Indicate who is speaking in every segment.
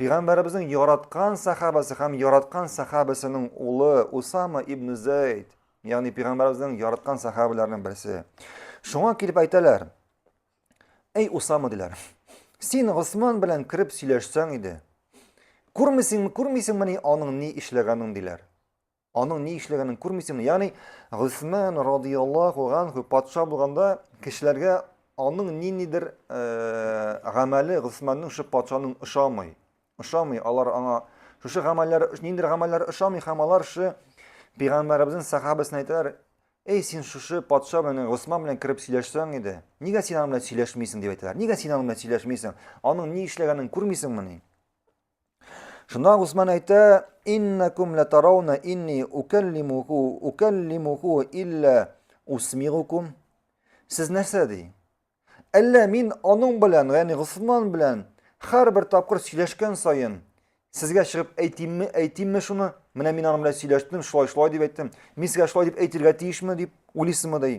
Speaker 1: Пәйгамбәребезнең яраткан сахабасы һәм яраткан сахабасының улы Усама ибн Зәйд, ягъни пәйгамбәребезнең яраткан сахабаларының берсе. Шуңа килеп әйтәләр, Әй Усама диләр, син Госман белән кереп сөйләшсәң иде. Күрмисеңме, күрмисеңмени аның ни эшләгәнен диләр. Аның ни эшләгәнен күрмисеңме? Ягъни Госман радияллаху анху патша булганда кешеләргә аның ниндидер гамәле Госманның шул патшаның ошамый. Ошамый, алар аңа шушы гамәлләр, ниндидер гамәлләр ошамый һәм алар шы пәйгамбәребезнең сахабасына әйтәләр, Эй, син шушы патша белән, Госман белән кереп сөйләшсәң иде. Нигә син аның белән сөйләшмисең дип әйтәләр. Нигә син аның белән сөйләшмисең? Аның ни эшләгәнен күрмисеңмени? Шунда Гусман әйтә, «Иннакум латарауна инни укаллимуху, укаллимуху илля усмигукум». Сез нәрсә ди? Әллә мин аның белән, ягъни Гусман белән һәрбер тапкыр сөйләшкән саен сезгә чыгып әйтимме, әйтимме шуны? Менә мин аның белән сөйләштем, шулай-шулай дип әйттем. Мин сезгә шулай дип әйтергә тиешме дип уйлыйсызмы ди?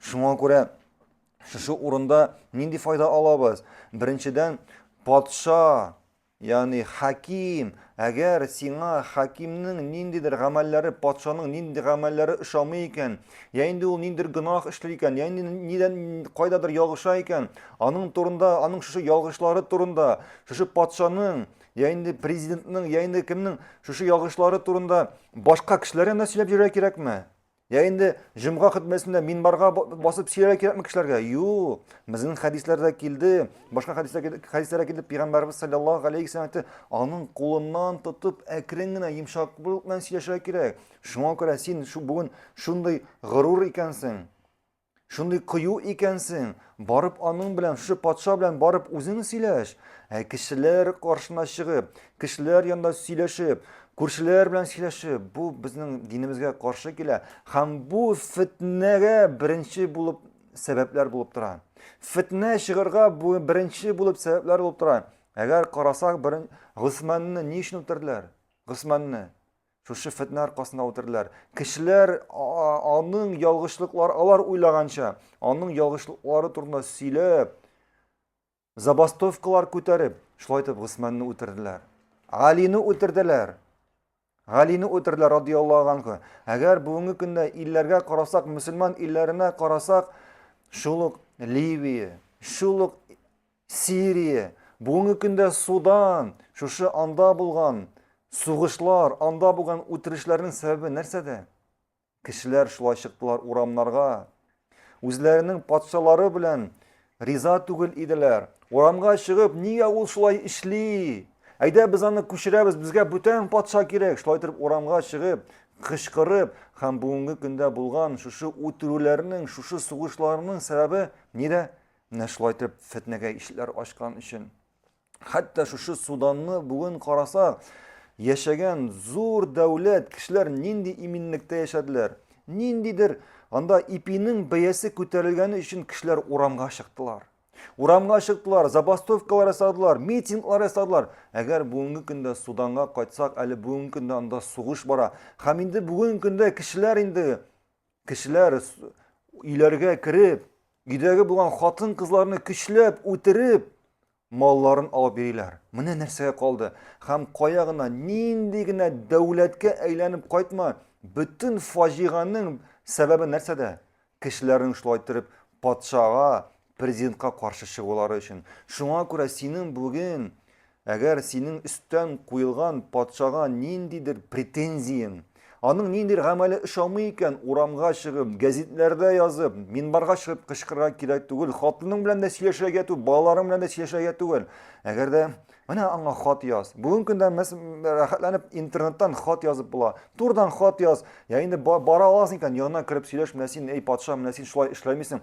Speaker 1: Шуңа күрә шушы урында нинди файда алабыз? Беренчедән, патша, ягъни хаким, әгәр сиңа хакимнең ниндидер гамәлләре, патшаның нинди гамәлләре ошамый икән, я инде ул ниндидер гөнаһ эшли икән, я инде нидән кайдадыр ялгыша икән, аның турында, аның шушы ялгышлары турында, шушы патшаның я инде президентның, я инде кемнең шушы ялгышлары турында башка кешеләр янына сөйләп йөрергә кирәкме? Я инде җомга хөтбәсендә минбарга басып сөйләргә кирәкме кешеләргә? Юк. Безнең хәдисләрдә килде, башка хәдисләрдә хәдисләрдә килде, пәйгамбәрбез саллаллаһу алейхи ва саллям аның кулыннан тотып әкрен генә йомшаклык белән сөйләшергә кирәк. Шуңа күрә син шу бүген шундый горур икәнсең. Шундый кыю икәнсең, барып аның белән, шушы патша белән барып үзең сөйләш. Ә кешеләр каршына чыгып, кешеләр янында сөйләшеп, күршеләр белән сөйләшеп, бу безнең динебезгә каршы килә һәм бу фетнәгә беренче булып сәбәпләр булып тора. Фетнә чыгарга бу беренче булып сәбәпләр булып тора. Әгәр карасак, берен Госманны ни өчен үтерделәр? Госманны. Шушы фетнә аркасында үтерделәр. Кешеләр аның ялгышлыклар алар уйлаганча, аның ялгышлыклары турында сөйләп, забастовкалар күтәреп, шулай итеп Госманны үтерделәр. Алины үтерделәр. Алины үтерделәр радияллаһу анху. Әгәр бүгенге көндә илләргә карасак, мусульман илләренә карасак, шул ук Ливия, шул ук Сирия, бүгенге көндә Судан, шушы анда булган сугышлар, анда булган үтерешләрнең сәбәбе нәрсәдә? Кешеләр шулай чыктылар урамнарга. Үзләренең патшалары белән риза түгел иделәр. Урамга чыгып, нигә ул шулай эшли? Әйдә без аны күчерәбез, безгә бүтән патша кирәк. Шулай итеп урамга чыгып, кычкырып һәм бүгенге көндә булган шушы үтерүләрнең, шушы сугышларның сәбәбе нидә? Менә шулай итеп фетнәгә ишләр ачкан өчен. Хәтта шушы Суданны бүген караса, яшәгән зур дәүләт кешеләр нинди иминлектә яшәделәр. Ниндидер анда ипинең бәясе күтәрелгәне өчен кешеләр урамга чыктылар. Урамга чыктылар, забастовкалар ясадылар, митинглар ясадылар. Әгәр бүгенге көндә Суданга кайтсак, әле бүгенге көндә анда сугыш бара. Һәм инде бүгенге көндә кешеләр инде Кешеләр өйләргә кереп, өйдәге булган хатын-кызларны көчләп үтереп, малларын алып бириләр. Менә нәрсәгә калды. Һәм кая гына, нинди генә дәүләткә әйләнеп кайтма, бөтен фаҗиганың сәбәбе нәрсәдә? Кешеләрнең шулай иттереп патшага, президентка каршы чыгулары өчен. Шуңа күрә синең бүген, әгәр синең өстән куелган патшага ниндидер претензияң, аның ниндидер гамәле ошамый икән, урамга чыгып, гәзитләрдә язып, минбарга чыгып кычкырырга кирәк түгел, хатының белән дә сөйләшергә түгел, балаларың белән дә сөйләшергә түгел. Әгәр дә Менә аңа хат яз. Бүген көндә без рәхәтләнеп интернеттан хат язып була. Турдан хат яз. Я инде бара аласың икән, янына кереп сөйләш, менә син, эй патша, менә син шулай эшләмисең.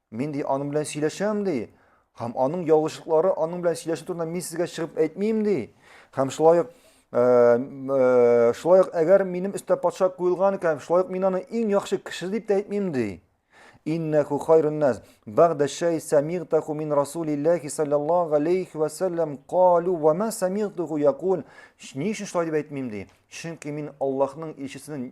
Speaker 1: Мин ди аның белән сөйләшәм ди. Һәм аның ялгышлыклары аның белән сөйләшү турында мин сезгә чыгып әйтмим ди. Һәм шулай ук э, э, шулай ук әгәр минем өстә патша куелган икән, шулай ук мин аны иң яхшы кеше дип тә әйтмим ди. Иннәху хайрун нас бәгъдә шәй самигтаху мин расулиллахи саллаллаху алейхи ва саллям калу ва ма самигтаху якул. Ни өчен шулай дип әйтмим ди? Чөнки мин Аллаһның илчесенең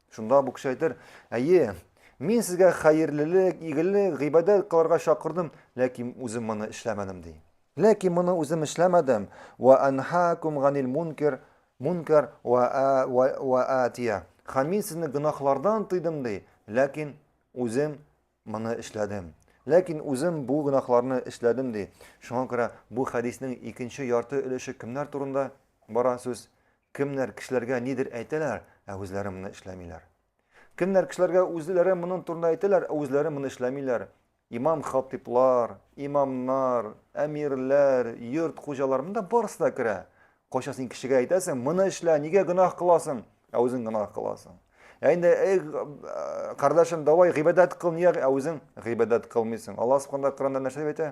Speaker 1: Шунда бу кеше әйтер, әйе, мин сезгә хәерлелек, игелек, гыйбадәт кыларга чакырдым, ләкин үзем моны эшләмәдем ди. Ләкин моны үзем эшләмәдем. Ва анхакум ганил мункер, мункар ва ва атия. Һәм мин сезне гөнаһлардан тыйдым ди, ләкин үзем моны эшләдем. Ләкин үзем бу гөнаһларны эшләдем ди. Шуңа күрә бу хәдиснең икенче ярты өлеше кемнәр турында бара сүз? Кемнәр кешеләргә нидер әйтәләр, ә үзләре моны эшләмиләр. Кемнәр кешеләргә үзләре моның турында әйтәләр, ә үзләре моны эшләмиләр. Имам хатиплар, имамнар, әмирләр, йорт хуҗалар монда барысы да керә. Кайча син кешегә әйтәсең, моны эшлә, нигә гөнаһ кыласың, ә үзең гөнаһ кыласың. Ә инде эй кардәшем, давай гыйбадәт кыл, нигә ә үзең гыйбадәт кылмыйсың? Аллаһ субхана Коранда нәрсә әйтә?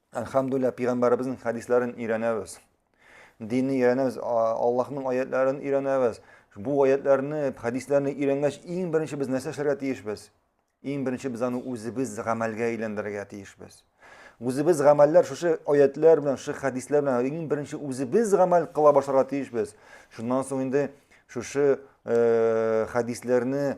Speaker 1: Әлхәмдүлилләһ, пигамбәребезнең хәдисләрен өйрәнәбез. Динне өйрәнәбез, Аллаһның аятларын өйрәнәбез. Бу аятларны, хәдисләрне өйрәнгәч, иң беренче без нәрсә эшләргә тиешбез? Иң беренче без аны үзебез гамәлгә әйләндерергә тиешбез. Үзебез гамәлләр шушы аятлар белән, шушы хәдисләр белән иң беренче үзебез гамәл кыла башларга тиешбез. Шуннан соң инде шушы э, хәдисләрне